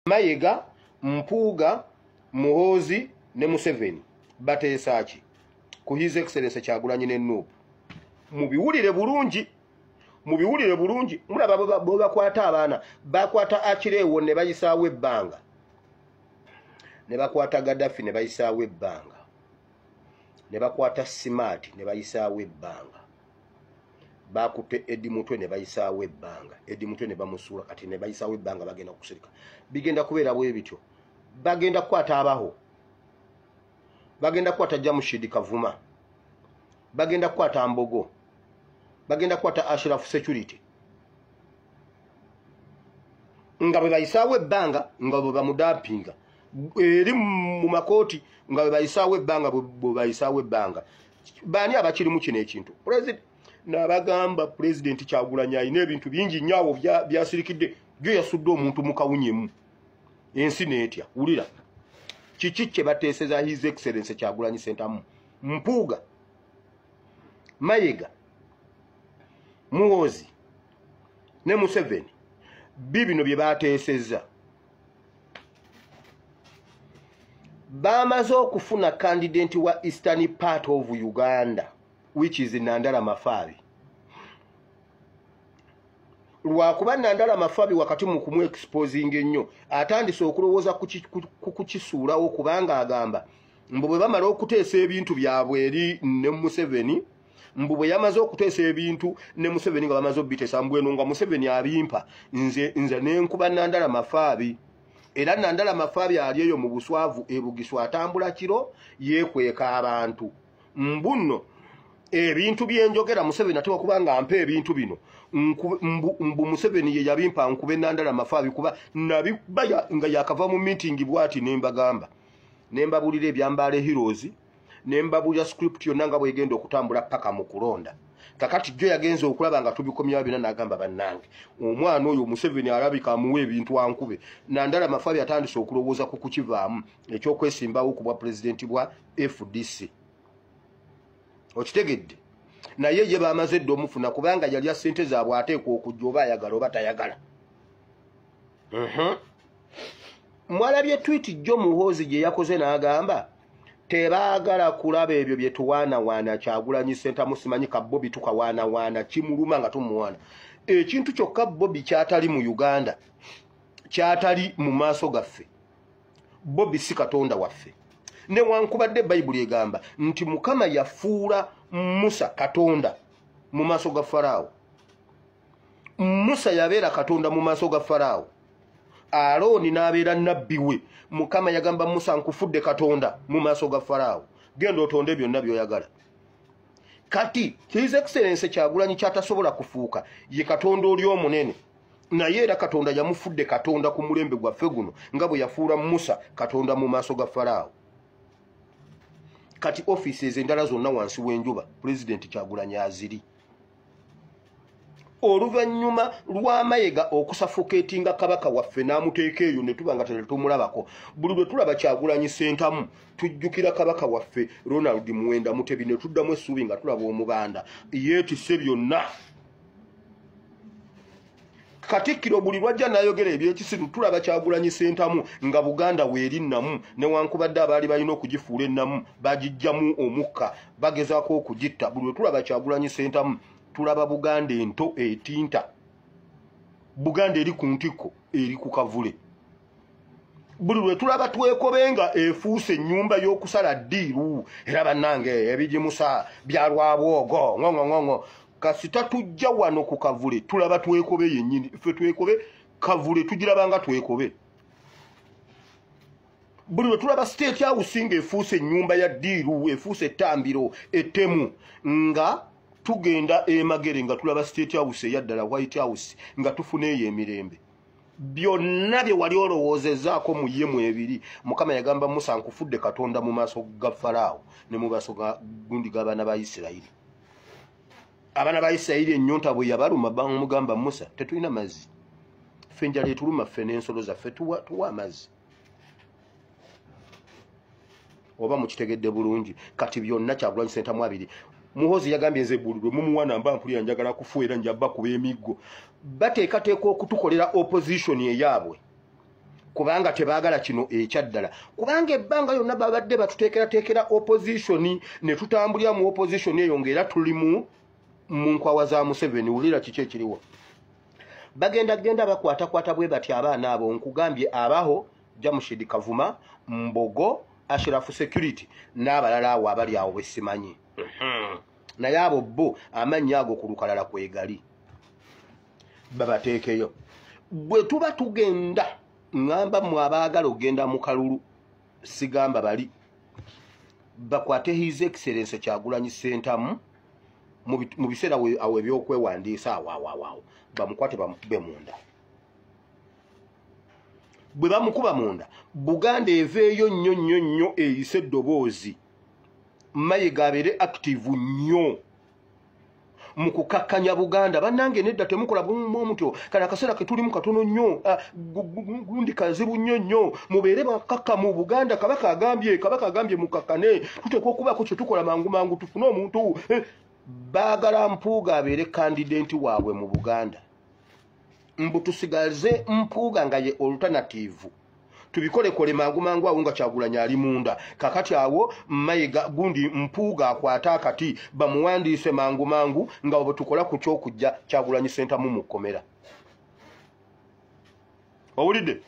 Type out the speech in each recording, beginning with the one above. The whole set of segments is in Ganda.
mayega mpuuga muhoozi ne museveni bateesa ki ku his excellence kyagulanyi ne nuupu mubiwulire bulungi mubiwulire bulungi mulaba bwebakwata abaana bakwata akireewo ne bayisaawo ebbanga ne bakwata gadafi ne bayisaawo ebbanga ne bakwata simaati ne bayisaawo ebbanga bakutte edi mutwe ne bayisaawo ebbanga edi mutwe ne bamusuula kati ne bayisaawo ebbanga bagenda kusirika bigenda kubeera bwe bityo bagenda kukwata abaho bagenda kukwata jamushidi kavuma bagenda kukwata mbogo bagenda kukwata ashirafu security nga bwe bayisaawo ebbanga nga bwe bamudampinga eri mu makooti nga bwe bayisaawo ebbanga bwe bayisaawo ebbanga baani abakirimu kino ekintu nabagamba pulezidenti kyagulanya alina ebintu bingi nnyo awo byasirikidde jo yasudde omuntu mu kawunyemu ensi neetya wulira kiki kye bateeseza his excellence kyagulanyi sentamu mpuuga mayega muwozi ne museveni bi bino bye bateeseza baamaze okufuna kandidenti wa eastern part of uganda which is nandala mafaabi lwakuba nandala mafabi wakati mu kumu exposing ennyo atandise okulowooza ku kukisuulawo kubanga agamba mbu bwe bamala okuteesa ebintu byabwe eri ne museveni mbu bwe yamaze okuteesa ebintu ne museveni nga bamaze obiteesa mbweno nga museveni abimpa nze nze nenkuba nandala mafaabi era nandala mafaabi ali eyo mu buswavu ebugisu atambula kiro yekweka abantu mbunno ebintu byenjogera museveni ate wakuba nga mpa ebintu bino mbu museveni ye yabimpa nkube nandala mafaabi kuba nabiba nga yakava mu mitingi bwati nembagamba nembabuulira ebyambaala ehirozi ne mbabuulira script yonna nga bwegenda okutambula paka mu kulonda kakati jjo yagenza okulaba nga tubikomyawo byona nagamba bannange omwana oyo museveni alabika amuwa ebintu ankube nandala mafabi atandise okulowooza ku kukivaamu ekyokwesimbawo ku bwa pulezidenti bwa fdc okitegedde naye ye bamaze edda omufuna kubanga yalya sente zaabwe ateekwa okujja oba ayagala oba tayagala mwalabye twiti jjo muhoozi gye yakoze n'agamba tebaagala kulaba ebyo bye tuwaanawaana kyagulanyi sentamu simanyi ka bobi tukawaanawaana kimuluma nga tumuwaana ekintu kyokka bobi kyatali mu uganda kyatali mu maaso gaffe bobi si katonda waffe newankubadde bayibuli egamba nti mukama yafuula musa katonda mu maaso ga faraawo musa yabeera katonda mu maaso ga faraawo alooni n'abeera nabbi we mukama yagamba musa nkufudde katonda mu maaso ga faraawo genda otonde byonna byoyagala kati his excellence kyagulanyi kyatasobola kufuuka ye katonda oli omunene naye era katonda yamufudde katonda ku mulembe gwaffe guno nga bwe yafuula musa katonda mu maaso ga faraawo kati offices endala zonna wansi w'enjuba pulezidenti kyagulanyi aziri oluvannyuma lwamayega okusafukeeti nga kabaka waffe n'amuteeka eyo ne tuba nga tetumulabako buli lwe tulaba kyagulanyi sentamu tujjukira kabaka waffe ronald muwenda mutebi ne tuddamu essuubi nga tulaba omubanda yeetise byonna katikkiro buli lwajja nayogera ebyekisiru tulaba kyagulanyi sentamu nga buganda weeri namu newankubadde abaali balina okugifuula ennamu bagijjamu omukka bagezaako okugitta buli lwetulaba kyagulanyi sentamu tulaba buganda ento etinta buganda eri ku ntikko eri ku kavule buli lwetulaba twekobe nga efuuse ennyumba y'okusala ddiiru era bannange ebigimusa byalwabwogo ngongong'ongo kasita tujja wano ku kavule tulaba twekobe yennyini ffe twekobe kavule tugiraba nga twekobe buli lwe tulaba state house nga efuuse ennyumba ya diiru efuuse ettambiro ettemu nga tugenda emagere nga tulaba state house eyaddala white house nga tufuna eyo emirembe byonna bye wali olowoozezaako mu ye mu ebiri mukama yagamba musa nkufudde katonda mu maaso ga faraawo ne mu maaso ga gundi g'abaana ba isirayiri abaana ba isirayiri ennyonta bwe yabaluma bamugamba musa tetulina mazzi ffe enjala etuluma ffe n'ensolo zaffe tuwa amazzi oba mukitegedde bulungi kati byonna kyagulanyi sentamu abiri muhozi yagambye nze bulirwe mumuwana mba mpulira njagala kufuera njabakuba emiggo bateekateeka okutukolera opposition eyaabwe kubanga tebagala kino ekyaddala kubanga ebbanga yonna babadde batuteekerateekera opposition ne tutambulira mu opposition eyo ngaera tuli mu mu nkwawa za museveni wulira kiki ekiriwo bagenda genda bakwatakwata bwe bati abaana abo nkugambye abaho jamushid kavuma mbogo ashirafu security n'abalala awo abali awo besimanyi mhm. naye abo bo amannya ago ku lukalala kwegali babateekeyo bwe tuba tugenda ŋŋamba mwe abaagala okugenda mu kalulu sigamba bali bakwate his excellence kyagulanyi ssentamu mu biseera awo ebyokwewandiisa awawawaawo bamukwate bamukube munda bwe bamukuba munda buganda eveeyo nnyo nnyo nnyo eyise eddoboozi mayiga abeere active nnyo mu kukakkanya buganda bannange nedda temukola bumuma omutyo kale akaseera ke tulimu katono nnyo ah, gundi kazibu nnyo nnyo mubeere bakakka mu buganda kabaka agambye kabaka agambye mukakkane tuteekwa okubaako kye tukola mangu mangu tufune omuntu eh, baagala mpuuga abeere kandidenti waabwe mu buganda mbu tusigaze mpuuga nga ye oluternativu tubikolekole mangu mangu awo nga kyagulanya ali munda kakati awo mayiga gundi mpuuga akwate akati bamuwandiise mangu mangu nga bwetukola ku kyokujja kyagulanyi sentamu mu kkomera owulidde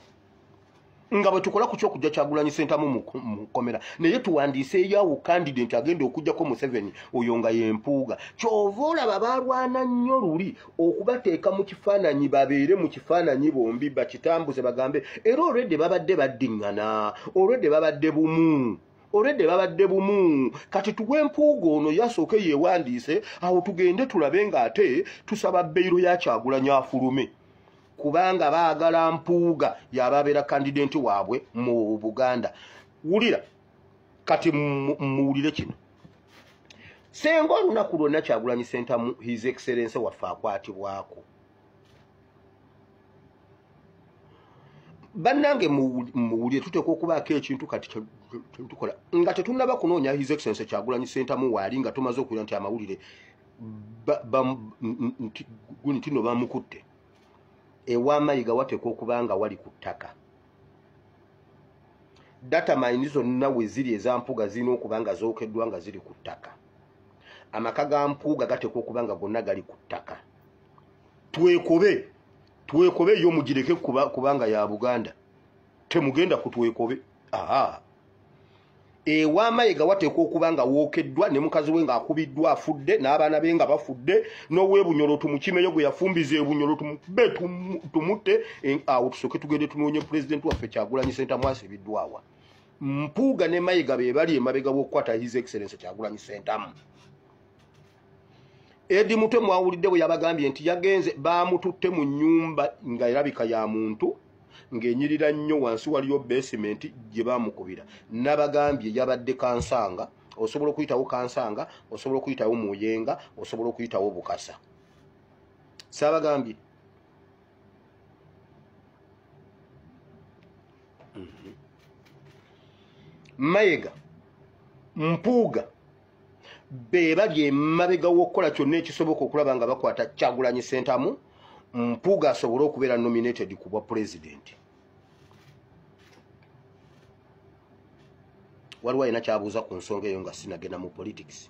nga bwetukola ku kyokujja kyagulanyi sentamu mukomera naye tuwandiise eyawo kandida nti agenda okujjako museveni oyo nga yempuuga kyova olaba balwana nnyo luli okubateeka mu kifaananyi babeere mu kifaananyi bombi bakitambuze bagambe era olwedde babadde baddiŋŋana olwedde babadde bumu olwedde babadde bumu kati tuwe empuuga ono yasooke yewandiise awo tugende tulabe ng'ate tusaba beyiro yakyagulanyi afulume kubanga baagala mpuuga yaba abeera kandidenti waabwe mu buganda wulira kati muwulire kino senga olunaku lwonna kyagulanyi sentamu his excellence waffe akwatibwako bannange muwulire tuteekwa okubaako ekintu kati tukola nga tetunaba kunoonya his excellence kyagulanyi sentamu waali nga tumaze okuwulira nti amawulire guni tino bamukutte ewa mayiga wateekwa okuba nga wali ku ttaka data mayini zonna we ziri eza mpuuga zirina okuba nga zookeddwa nga ziri ku ttaka amaka ga mpuuga gateekwa okuba nga gonna gali ku ttaka twekobe twekobe yo mugireke kubanga ya buganda temugenda ku twekobe aa ewa mayega wateekwa okuba nga wookeddwa ne mukazi we ng'akubiddwa afudde n'abaana be nga bafudde n'owebunyolo tumukimeyo gwe yafumbiza ebunyolo tumube tumutte awo tusooke tugende tunoonye pulezidenti waffe kyagulanyi senta mwasibiddwawa mpuuga ne mayega be bali emabega w'okukwata his excellence kyagulanyi sentamu edi mutwe mwawulidde bwe yabagambye nti yagenze baamututte mu nnyumba nga erabika ya muntu ng'enyirira nnyo wansi waliyo besimenti gye baamukubira nabagambye yabadde kansanga osobola okuyitawo kansanga osobola okuyitawo muyenga osobola okuyitawo bukasa saabagambye mhm. mayega mpuuga be bali emabega w'okukola kyonna ekisoboka okulaba nga bakwata kyagulanyi sentamu mpuuga asobole okubeera nominated ku bwa pulezidenti waliwo alina kyabuuza ku nsonga eyo nga sinagenda mu politics